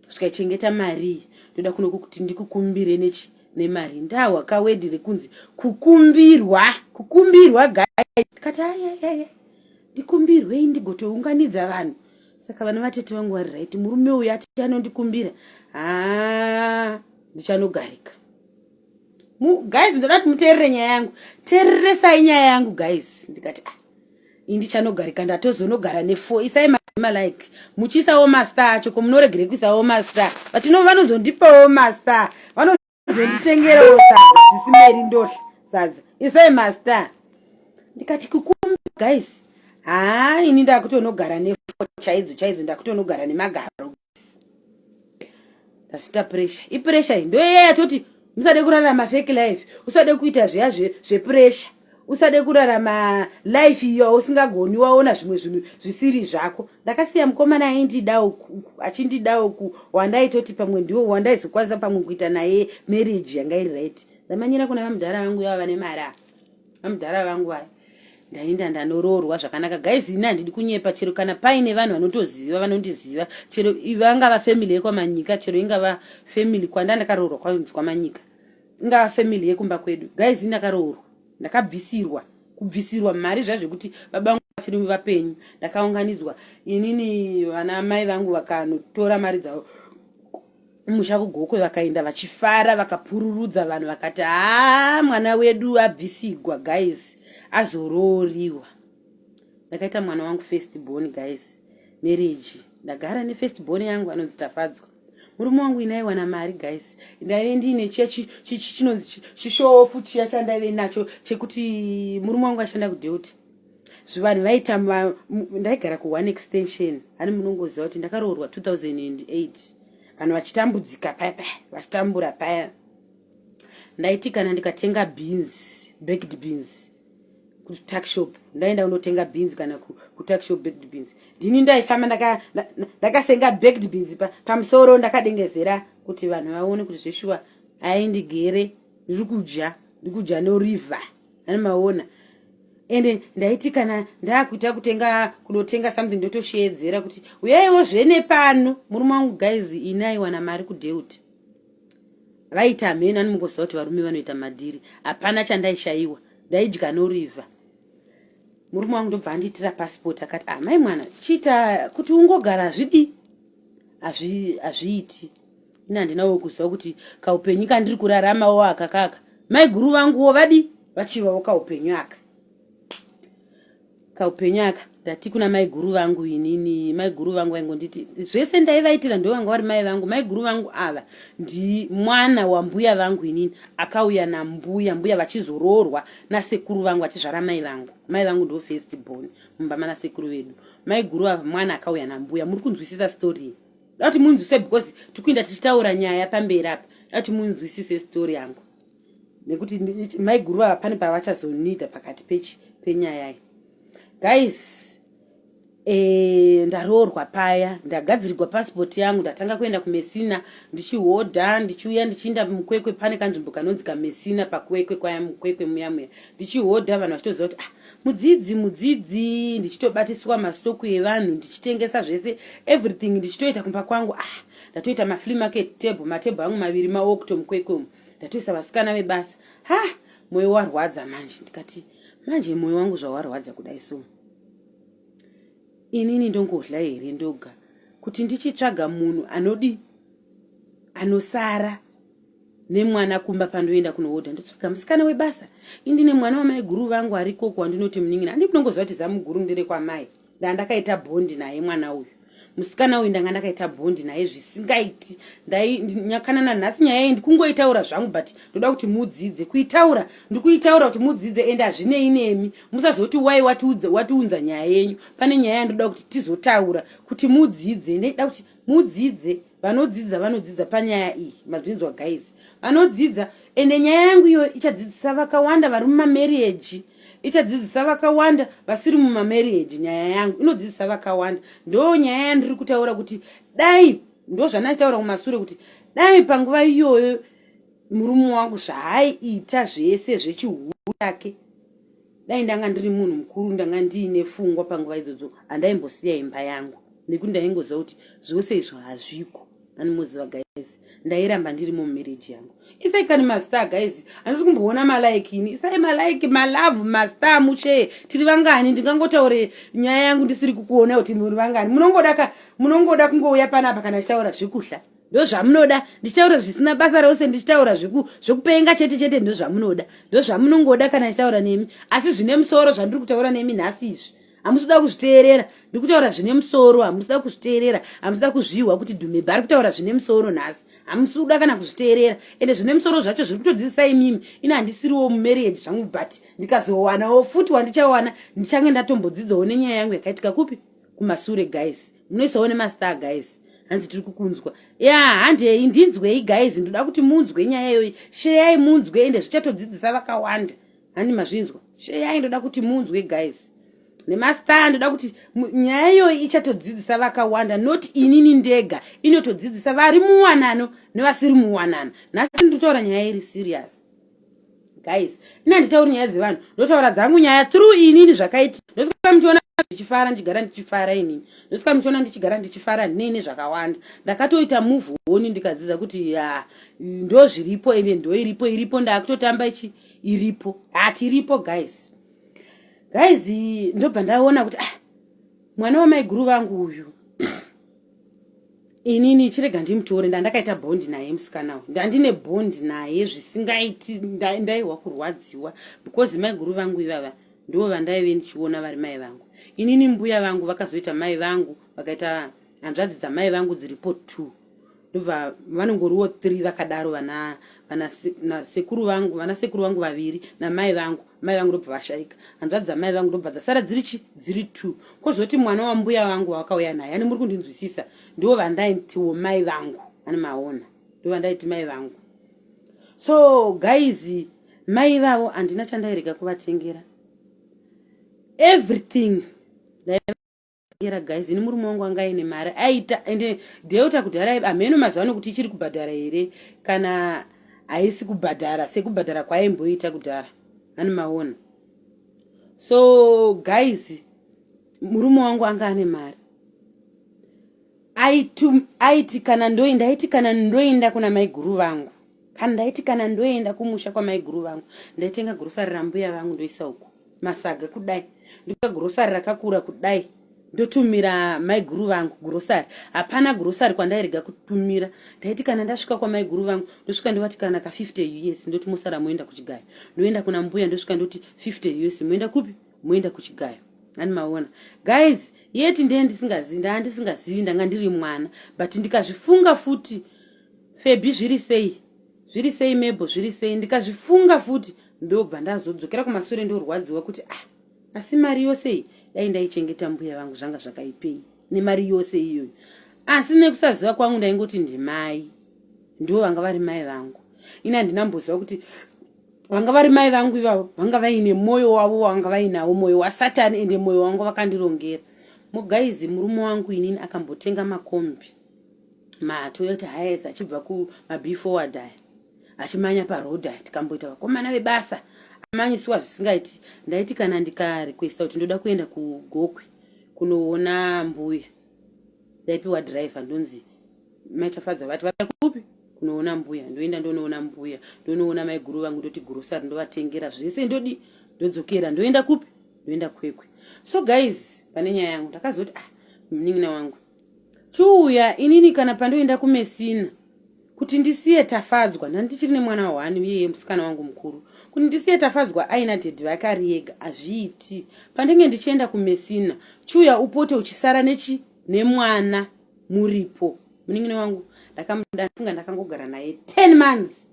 svika chengeta marii ndoda kuno kuti ndikukumbire nechi nemari ndahwa kawedi rekunzi kukumbirwa kukumbirwa gai ndikati ayayaya ndikumbirwei ndigotounganidza vanhu saka vana vatete vangu vari right murume uyu ati anondikumbira haa ndichanogarika guys ndoda kuti muteerere nyaya yangu teereresai nyaya yangu guys ndikati ah, indi chanogarika ndatozonogara nefo isai malike muchiisawo master acho ko munoregerei kuisawo master vatino vanozondipawo master vanozonditengerawo sadza sisimeri ndohla sadza isai master ndikati kukumba guys haa ini ndakutonogara nefo chaidzo chaidzo ndakutonogara nemagaro ndazvita pressure ipressure iyi ndoyeya yatoti musade kurarama fake life usade kuita zviya zvepressure usade kurarama life iyo usingagoni waona zvimwe zvinhu zvisiri zvako ndakasiya mukomana aindidawo achindidawo ku wandaitoti pamwe ndiwo wandaizokwanisa pamwe kuita naye marriage yanga iri right ndamanyira kuna vamudhara vangu yava vane mari ava amudhara vangu vaya ndainda ndanoroorwa zvakanaka guys ini handidi kunyepa chero kana paine vanhu vanotoziva vanondiziva chero vangava family yekwamanyika chero ingava family kwanda ndakaroorwa kwanzi kwamanyika ingava family yekumba kwedu guys ini ndakaroorwa ndakabvisirwa kubvisirwa mari zvazvekuti baba vangu vachiri vapenyu ndakaunganidzwa inini vana mai vangu vakanotora mari dzavo musha kugokwe vakaenda vachifara vakapururudza vanhu vakati haa mwana wedu abvisigwa guys azorooriwa ndakaita mwana wangu first born guys marriage ndagara nefirst born yangu anonzi tafadzwa murume wangu inaiwana mari guys ndaive ndiine chiya chinonzi chishofu chiya chandaive nacho chekuti murume wangu ashanda kudeuty zvivanhu vaita ndaigara ku one extension ani munongoziva kuti ndakaroorwa 2008 vanhu vachitambudzika paya paya vachitambura paya ndaiti kana ndikatenga beans baked beans kutakshop ndaenda kunotenga beans kana kutakshop baked beans ndini ndaifamba ndakasenga baked beans pamusoro ndakadengezera kuti vanhu vaone kuti zveshuwa aendi gere ndiri kudya ndiri kudya noriver Hani maona. Ende ndaiti kana ndakuita kutenga kunotenga something ndotosheedzera kuti uyaiwo zvene pano murume wangu guys ini aiwana mari kudeut vaita hameno ani mukoziva kuti varume vanoita madhiri hapana chandaishaiwa ndaidya noriva murume wangu ndobva andiitira pasipoti akati amai ah, mwana chiita kuti ungogara zvidi hazviiti ini handina wo kuziva kuti kaupenyu kandiri kuraramawo aka kaka maiguru vanguwo vadi vachivawo kaupenyu aka kaupenyu aka ndati kuna maiguru vangu inini maiguru vangu vaingonditi zvese ndaivaitira ndo vanga vari mai vangu maiguru vangu ava ndi mwana wambuya vangu inini akauya nambuya mbuya vachizoroorwa nasekuru vangu vachizvara mai vangu mai vangu ndo first born mumba manasekuru vedu maiguru ava mwana akauya nambuya muri kunzwisisa story dati munzwise because tikuinda tichitaura nyaya pamberi apa dati munzwisise story yangu nekuti maiguru ava pane pavachazonida pakati pechi penyaya iyi guys e, ndaroorwa paya ndagadzirirwa passport yangu ndatanga kuenda kumesina ndichihodha ndichiuya ndichiinda mukwekwe pane kanzvimbo kanonzi kamesina pakwekwe kwaya mukwekwe muya muya ndichihodha vanhu vachitoziva kuti ah mudzidzi mudzidzi ndichitobatiswa mastoku evanhu ndichitengesa zvese everything ndichitoita kumba kwangu ah ndatoita maflea market table matable angu maviri mawokto mukwekwe umu ndatoisa vasikana vebasa ha mwoyo warwadza manje ndikati manje mwoyo wangu zvawarwadza kudai so inini ndongodla here ndoga kuti ndichitsvaga munhu anodi anosara nemwana kumba pandoenda kunohodha ndotsvaga musikana webasa indine mwana wamai guru vangu ari koko wandinoti munin'ina andi munongoziva kuti zamu guru ndere kwamai ndanga ndakaita bhondi naye mwana uyu musikana uyu ndanga ndakaita bhondi naye zvisingaiti ndainyakana nanhasi nyaya iyi ndikungoitaura zvangu but ndoda kuti mudzidze kuitaura ndikuitaura kuti mudzidze ende hazvinei nemi musazoti wai watiunza nyaya yenyu pane nyaya yandoda kuti tizotaura kuti mudzidze ndida kuti mudzidze vanodzidza vanodzidza panyaya iyi mazvinzwa guys vanodzidza ende nyaya yangu iyo ichadzidzisa vakawanda vari mumamarriage ichadzidzisa vakawanda vasiri mumamarriage nyaya yangu inodzidzisa vakawanda ndo nyaya yandiri kutaura kuti dai ndo zvandachitaura kumasure kuti dai panguva iyoyo murume wangu zvaaiita zvese zvechihure chake dai ndanga ndiri munhu mukuru ndanga ndiine fungwa panguva idzodzo handaimbosiya imba yangu nekuti ndaingoziva kuti zvose izvo hazviko animoziva guys ndairamba ndiri mumarriage yangu isai kani mastar guys handisi kumboona malike ini isai malike malove mastar muchee tiri vangani ndingangotaure nyaya yangu ndisiri kukuona kuti muri vangani munongoda munongoda kungouya panapa kana achitaura zvekuhla ndozvamunoda ndichitaura zvisina basa rose ndichitaura zvekupenga chete chete ndozvamunoda ndozvamunongoda kana ndichitaura nemi asi zvine musoro zvandiri kutaura nemi nhasi izvi hamusida kuzviteerera ndiri kutaura zvine musoro hamusida kuzviteerera hamusida kuzvihwa kuti dhumebha ari kutaura zvine musoro nhasi hamusida kana kuzviteerera ende zvine musoro zvacho zviri kutodzidzisa imimi ini handisiriwo mumarriage zvangu but ndikazowanawo futi wandichawana ndichange ndatombodzidzawo nenyaya yangu yakaitika kupi kumasure guys munoisawo nemastar guys hanzi tiri kukunzwa ya handei ndinzwei guys ndoda kuti munzwe nyaya iyoyi sheyai munzwe ende zvichatodzidzisa vakawanda handi mazvinzwa sheyai ndoda kuti munzwe guys nemastar ndoda kuti nyaya iyoyi ichatodzidzisa vakawanda not inini ndega inotodzidzisa vari muwanano nevasiri muwanano nhasi nditotaura nyaya iri serious guys ina nditauri nyaya dzevanhu ndotaura dzangu nyaya through inini zvakaiti ndosika muchiona ndichifara ndichigara ndichifara inini ndosika muchiona ndichigara ndichifara nini zvakawanda ndakatoita move honi ndikadzidza kuti ya ndo zviripo ende ndo iripo iripo ndakutotamba ichi iripo hati iripo guys guys ndobva ndaona kuti ah, mwana wamaiguru vangu uyu inini chirega ndimutore ndandakaita bondi naye musikana uyu ndandine bondi naye zvisingaiti ndaihwa kurwadziwa because maiguru vangu ivava ndivo vandaive ndichiona vari mai vangu inini mbuya vangu vakazoita mai vangu vakaita hanzvadzi dzamai vangu dziripo two ndobva vanongoriwo three vakadaro vana vana sekuru vangu vana sekuru vangu vaviri namai vangu mai vangu ndobva vashaika hanzvadzi dzamai vangu ndobva dzasara dziri chi dziri two kozoti mwana wambuya vangu wavakauya naye ani muri kundinzwisisa ndiwo vandaitiwo mai vangu ani maona ndo vandaiti mai vangu so guys mai vavo handina chandairega kuvatengera everything era guys ini murume wangu anga aine mari aita ende delta kudhara hameno mazuva ano kuti ichiri kubhadhara here kana haisi kubhadhara sekubhadhara kwaimboita kudhara ani maona so guys murume wangu anga ane mari aitu aiti kana ndoenda aiti kana ndoenda kuna maiguru vangu kana ndaiti kana ndoenda kumusha kwamaiguru vangu ndaitenga gurosari rambuya vangu ndoisa uku masaga kudai ndoka gurosari rakakura kudai ndotumira maiguru vangu gurosari hapana gurosari kwandairega kutumira ndaiti kana ndasvika kwamaiguru vangu ndosvika ndovati kana ka 50 us ndoti mosara moenda kuchigaya ndoenda kuna mbuya ndosvika ndoti 50 us moenda kupi moenda kuchigayo nani maona guys yeti ndee ndisingazivi ndaa ndisingazivi ndanga ndiri mwana but ndikazvifunga futi febi zviri sei zviri sei mebho zviri sei ndikazvifunga futi ndobva ndazodzokera kumasure ndorwadziwa kuti ah asi mari yose iyi dai ndaichengeta mbuya vangu zvanga zvakaipei nemari yose iyoyo asi nekusaziva kwangu ndaingoti ndimai ndivo vanga vari mai vangu ini handina mboziva kuti vanga vari mai vangu ivavo vanga vaine mwoyo wavo wavanga vainawo mwoyo wasatani ende mwoyo wangu vakandirongera mugaizi murume wangu inini akambotenga makombi matoyota hayes achibva kumabe forward aya achimanya paroad aya tikamboita vakomana vebasa amanyisiwa zvisingaiti ndaiti kana ndikarequesta kuti ndoda kuenda kugokwe kunoona mbuya ndaipiwa driver ndonzi Mai Tafadzwa vati vada kupi? Kunoona mbuya. Ndoenda ndonoona mbuya. Ndonoona maiguru vangu ndoti grocery ndovatengera zvese ndodi ndodzokera ndoenda kupi? Ndoenda kwekwe. So guys, pane nyaya yangu ndakazoti ah munin'ina wangu chiuya inini kana pandoenda kumesina kuti ndisiye tafadzwa ndandichiri nemwana wani uyeye musikana wangu mukuru kuti ndisiye tafadzwa aina dhedhi vake ari yega hazviiti pandenge ndichienda kumesina chiuya upote uchisara nechi nemwana muripo munin'ina wangu ndakamudafunga ndakangogara naye 10 months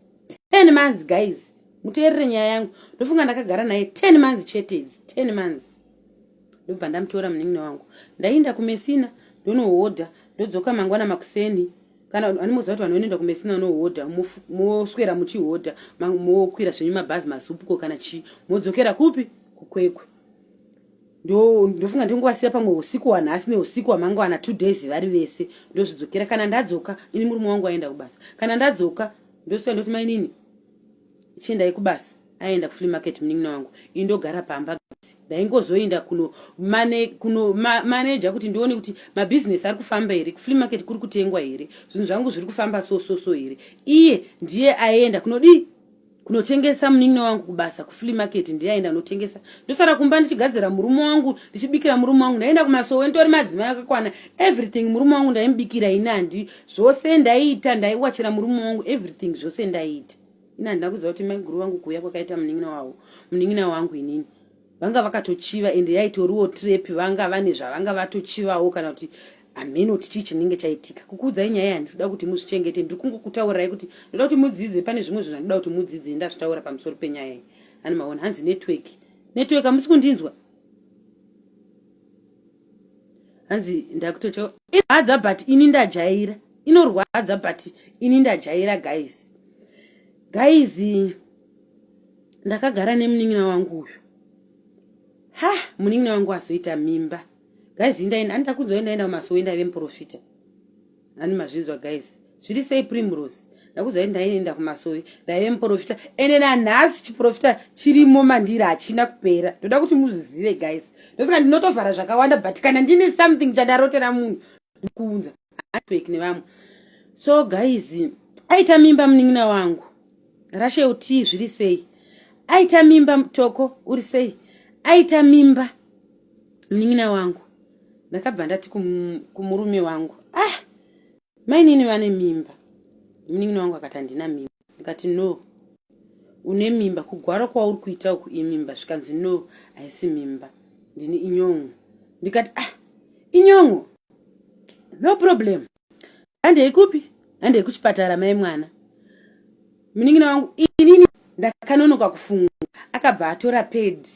10 months guys muteerere nyaya yangu ndofunga ndakagara naye 10 months chete idzi 10 months ndobva ndamutora munin'ina wangu ndaienda kumesina ndonohodha ndodzoka mangwana makuseni kana animoziva kuti vanhu vanoenda kumesina vanohodha moswera muchihodha mokwira zvenyu mabhazi mazupuko kana chii modzokera kupi kukwekwe ndofunga ndongowasiya pamwe usiku wanhasi neusiku wamangwana two days vari vese ndozvidzokera kana ndadzoka ini murume wangu aenda kubasa kana ndadzoka ndosvika ndoti mainini chiendai kubasa aenda kuflea market munin'ina wangu ini ndogara pamba ndaingozoenda kuno mane, kuno ma, maneja kuti ndione kuti mabhizinesi ari kufamba here kuflea market kuri kutengwa here zvinhu zvangu zviri kufamba so so so here iye ndiye aenda kunodii kunotengesa munin'ina wangu kubasa kuflea market ndiyaenda anotengesa ndosara kumba ndichigadzira murume wangu ndichibikira murume wangu ndaienda kumasowe nditori madzimai akakwana everything murume wangu ndaimubikira ini handi zvose ndaiita ndaiwachira murume wangu everything zvose ndaiita ini handina kuziva kuti maiguru vangu kuuya kwakaita munin'ina wavo munin'ina wangu inini vanga vakatochiva ende yaitoriwo trap vanga vane zvavanga vatochivawo kana kuti hameno kuti chii chinenge chaitika kukuudzai nyaya handisida kuti muzvichengete ndiri kungokutaurirai kuti ndoda kuti mudzidze pane zvimwe zvinhu zvandida kuti mudzidze ndazvitaura pamusoro penyaya iyi ani maona hanzi network network hamusi kundinzwa hanzi ndakutocho inhadza but ini ndajaira inorwadza but ini ndajaira guys guys ndakagara nemunin'ina wangu uyu ha munin'ina wangu azoita mimba guys indaenda andida kunzwa indaenda kumasowe ndaive muprofita ani mazvinzwa guys zviri sei primrose ndakuza ndaenda kumasowe ndaive muprofita ende nanhasi chiprofita chirimo mandiri hachina kupera ndoda kuti muzvizive guys ndosaka ndinotovhara zvakawanda but kana ndine something chandarotera munhu ndikuunza handibeki nevamwe so guys aita mimba munin'ina wangu rashe utii zviri sei aita mimba mutoko uri sei aita mimba munin'ina wangu ndakabva ndati kumurume wangu ah mainini vane mimba munin'ina wangu akati handina mimba ndikati no une mimba kugwara kwauri kuita uku imimba zvikanzi no haisi mimba ndine inyongo ndikati ah inyongo no problem handei kupi handei kuchipatara mai mwana munin'ina wangu inini ndakanonoka kufunga akabva atora pedi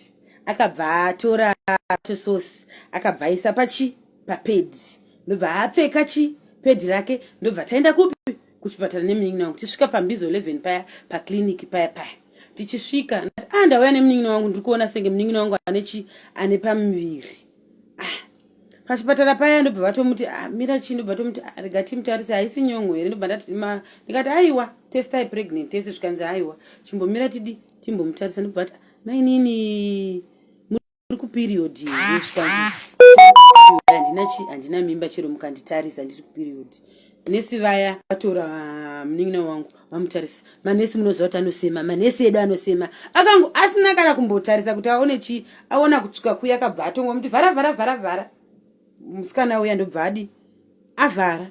akabva atora tososi akabva aisa pachi papedi ndobva apfeka chi pedi rake ndobva taenda kupi kuchipatara nemunin'ina wangu tichisvika pambizo 11 paya paclinic paya paya tichisvika ah ndauya nemunin'ina wangu ndiri kuona senge munin'ina wangu ane chi ane pamuviri ah pachipatara paya ndobva vatomuti ah, mira chii ndobva tomuti ah, rega timutarise haisi nyongo here ndobva ndati ndikati aiwa testai pregnant tese zvikanzi aiwa chimbomira tidi timbomutarisa ndobva vati mainini uri kuperiod here handina chi handina mimba chero mukanditarisa ndiri kuperiod nesi vaya vatora ah, munin'ina wangu vamutarisa manesi munoziva kuti anosema manesi edu anosema akangu asina kana kumbotarisa kuti aone chii aona kutsvuka kuya akabva atongwa muti vhara vhara vhara vhara musikana uya ndobva adi avhara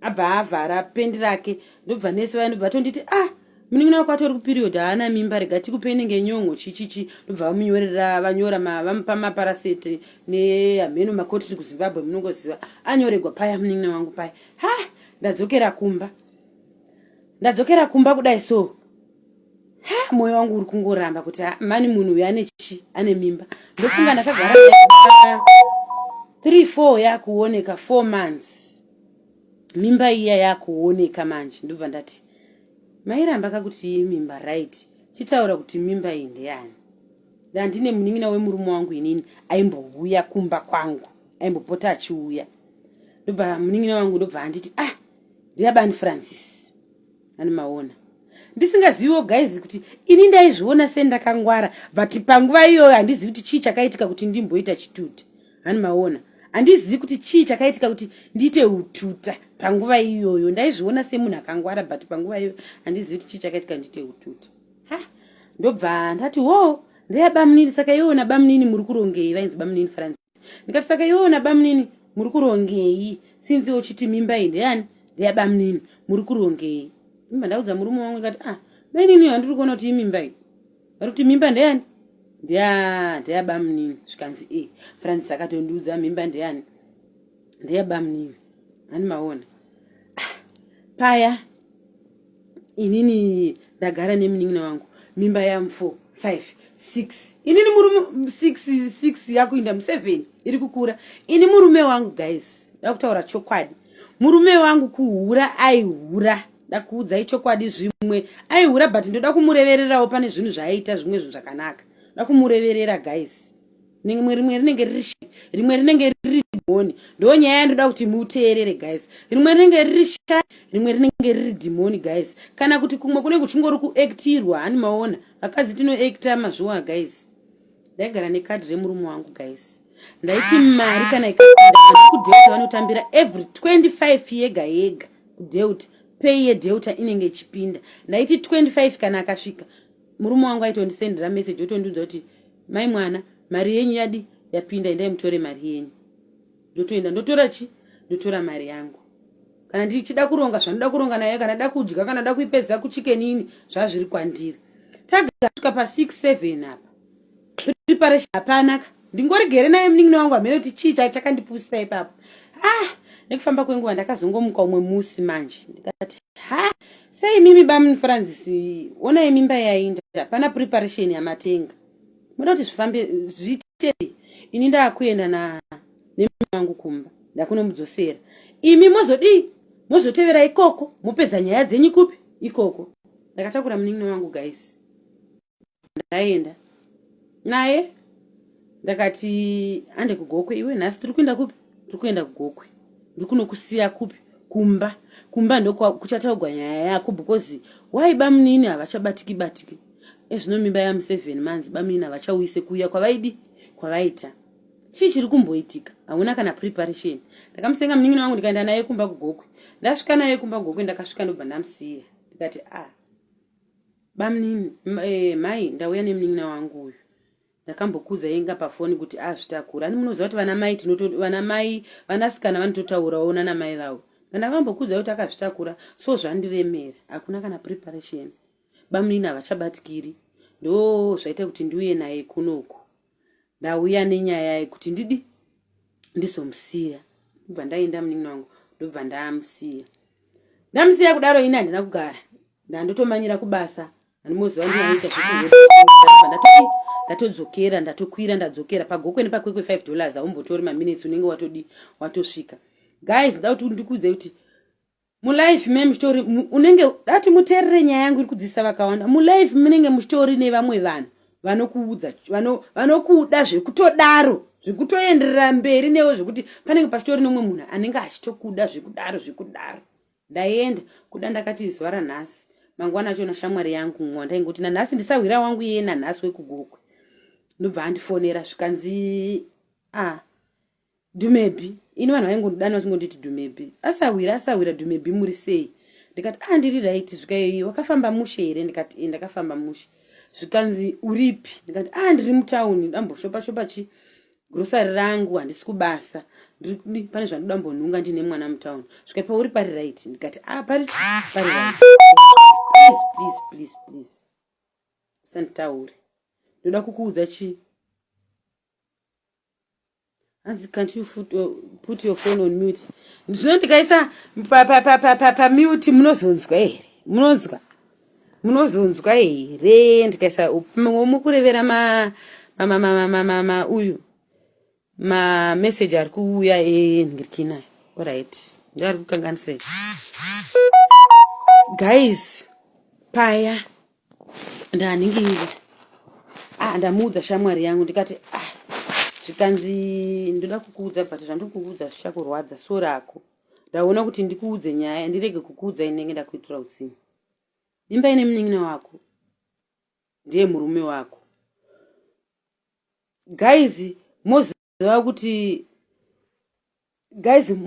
abva avhara pendi rake ndobva nese vaya ndobva tonditi ah munin'ina wako atori kuperiod haana mimba rega tikupe inenge nyongo chichichi ndobva vamunyorera vanyora vamupa maparaseti nehameno makotiri kuzimbabwe munongoziva anyoregwa paya munin'ina wangu paya ha ndadzokera kumba ndadzokera kumba kudai so moyo wangu uri kungoramba kuti ah, mani munhu uyo ane chi ane mimba ndofunga ndakagara three four yakuoneka four months mimba iya yakuoneka manje ndobva ndati mairamba kakuti iyi mimba right chitaura kuti mimba iyi ndeyani ndandine munin'ina wemurume wangu inini aimbouya kumba kwangu aimbopota achiuya ndobva munin'ina wangu ndobva anditi ah ndiyabani francis ani maona ndisingaziviwo guys kuti ini ndaizviona sendakangwara but panguva iyoyo handizivi kuti chii chakaitika kuti ndimboita chituta ani maona handizivi kuti chii chakaitika kuti ndiite ututa panguva iyoyo ndaizviona semunhu akangwara but panguva iyoyo handizivi kuti chii chakaitika ndiite ututa ha ndobva ndati wo ndeyabamunini saka iona bamunini muri kurongei vainzi bamunini faranzi ndikati saka iwewo nabamunini muri kurongei sinzi uchiti mimba iyi ndeyani ndeyabamunini muri kurongei mimba ndaudza murume wangu ndikati ah mainini handiri kuona kuti imimba iyi vari kuti mimba ndeyani ndeya ndeyabamunini zvikanzi e francis akatondiudza mimba ndeyani ndeyabamunini handi maona ah, paya inini ndagara nemunin'ina wangu mimba yam 4 5 6 inini murume 6 6 yakuinda mu7 iri kukura ini murume wangu guys ndakutaura chokwadi murume wangu kuhura aihura ndakuudzai chokwadi zvimwe aihura but ndoda kumurevererawo pane zvinhu zvaaiita zvimwe zvinhu zvakanaka ndoda kumureverera guys rimwe rimwe rinenge riri rimwe rinenge riri dhimoni ndo nyaya yandoda kuti muteerere guys rimwe rinenge riri sha rimwe rinenge riri dhimoni guys kana kuti kumwe kunenge kuchingori kuactirwa hani maona vakadzi tinoacta mazviwa guys ndaigara nekadhi remurume wangu guys ndaiti mari kana ikudeuta vanotambira every 25 yega yega kudeuta pay yedeuta inenge ichipinda ndaiti 25 kana akasvika murume wangu aitondisendera message otondiudza kuti mai mwana mari yenyu yadi yapinda endai mutore mari yenyu ndotoenda ndotora chi ndotora mari yangu kana ndichida kuronga zvanoda kuronga naye kana da kudya kana da kuipeza kuchikenini zvazviri kwandiri tagasvika pa 67 apa preparation hapana ka ndingoregere naye munin'ina wangu hamene kuti chii chai chakandipusisa ipapo ah nekufamba kwenguva ndakazongomuka umwe musi manje ndikati ha sei mimi bamun francis onai mimba yainda hapana preparation yamatenga muda kuti zvifambe zviite ini ndaakuenda na nemimi wangu kumba ndakunomudzosera imi mozodii mozotevera ikoko mopedza nyaya dzenyu kupi ikoko ndakatakura munin'ina wangu guys ndaenda naye ndakati ande kugokwe iwe nhasi tiri kuenda kupi tiri kuenda kugokwe ndiri kunokusiya kupi kumba kumba ndokuchataugwa nyaya yako because why bamunini havachabatiki batiki ezvino mimba yamuseven manzi bamunini havachauyise kuuya kwavaidi kwavaita chii chiri kumboitika hauna kana preparation ndakamusenga munin'ina wangu ndikaenda naye kumba kugokwe ndasvika naye kumba kugokwe ndakasvika ndobva ndamusiya ndikati a ah. Bamnini, eh, mai ndauya nemunin'ina wangu uyu ndakambokuudza yenga pafoni kuti azvitakura ani munoziva kuti vana mai vana mai vanasikana vanototaurawo nana mai vavo ndandakambokuudza kuti akazvitakura so zvandiremera hakuna kana preparation bamunini havachabatikiri ndo zvaita kuti ndiuye naye kunoku ndauya nenyaya yekuti ndidi ndizomusiya ndobva ndaenda munin'ina wangu ndobva ndamusiya ndamusiya kudaro ini handina kugara ndandotomanyira kubasa andimoziva ndinoita zveku ndatodzokera ndatokwira ndadzokera pagokwe nepakwekwe five dollars aumbotori maminutes unenge watodi watosvika guys nda kuti ndikuudze kuti mulife me muchitori unenge dati muterere nyaya yangu iri kudzisa vakawanda mulife munenge muchitori nevamwe vanhu vanokuudza vanokuda zvekutodaro zvekutoenderera mberi newe zvekuti panenge pachitori nomwe munhu anenge achitokuda zvekudaro zvekudaro ndaenda kuda ndakati zuva ranhasi mangwana acho nashamwari yangu mwa ndaingoti nanhasi ndisahwira wangu iye nanhasi wekugokwe ndobva andifonera zvikanzi a ah, Dumebhi, ini vanhu vaingondidana vachingonditi Dumebhi. Asahwira, asahwira Dumebhi muri sei? Ndikati ah ndiri right zvikayoyi wakafamba mushe here ndikati eh ndakafamba mushe. Zvikanzi uripi? Ndikati ah ndiri mutown ndamboshopa shopa chi grocery rangu handisi kubasa. Ndiri pane zvandoda mbonhunga ndine mwana mutown. Zvikati pauri pari right ndikati ah pari pari right. Please please please please. Usanditaure. Ndoda kukuudza chi hanzi can't you foot, uh, put your phone on mute ndizvino ndikaisa pamute munozonzwa here munonzwa munozonzwa here ndikaisa mukurevera ma uyu mameseji ari kuuya enhirikinayo orit ndoari kukanganisei guys paya ndanhinginyira ah ndamuudza shamwari yangu ndikati ah zvikanzi ndoda kukuudza but zvandiri kukuudza zvichakurwadza so rako ndaona kuti ndikuudze nyaya ndirege kukuudza inenge ndakuitira utsinye imba ine munin'ina wako ndiye murume wako guys moziva kuti guys